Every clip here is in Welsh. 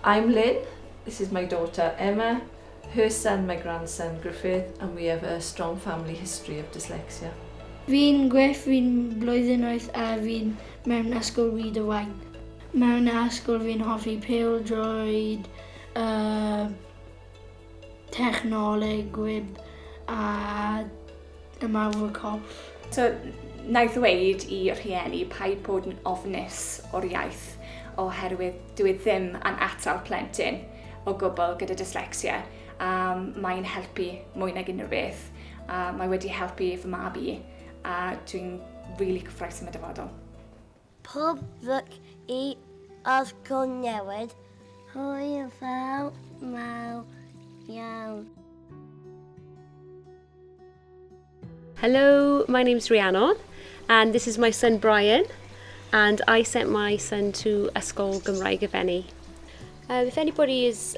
I'm Lynn, this is my daughter Emma, her son, my grandson Griffith, and we have a strong family history of dyslexia. Fi'n Griff, fi'n blwyddyn oeth a fi'n mewn ysgol wyd y wain. Mewn ysgol fi'n hoffi pêl droed, uh, Technoleg gwib a ymarfer corff. So, na i ddweud i rhieni paid bod yn ofnus o'r iaith oherwydd dyw e ddim yn atal plentyn o gwbl gyda dyslexia a mae'n helpu mwy nag unrhyw beth a mae wedi helpu fy mab i a dwi'n rili cyffroes am y dyfodol. Pob lwc i Osgood Newydd. Hwyl fawr mawr iawn. Hello, my name's Rhiannon and this is my son Brian and I sent my son to Ysgol Gymraeg Efenni. Um, if anybody is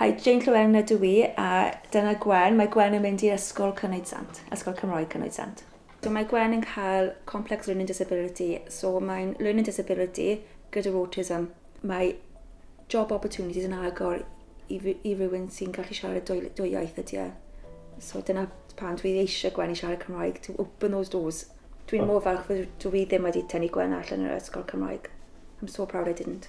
Hi, Jane Llewelyn ydw i, a dyna Gwen. Mae Gwen yn mynd i Ysgol Cynoed Sant, Ysgol Cymraeg Cynoed Sant. So mae Gwen yn cael complex learning disability, so mae'n learning disability gyda'r autism. Mae job opportunities yn agor i, i rywun sy'n gallu siarad dwy, dwy iaith ydy e. So dyna pan dwi eisiau Gwen i siarad Cymraeg, to open those doors. Dwi'n mor falch fod dwi ddim wedi tynnu Gwen allan yr ysgol Cymraeg. I'm so proud I didn't.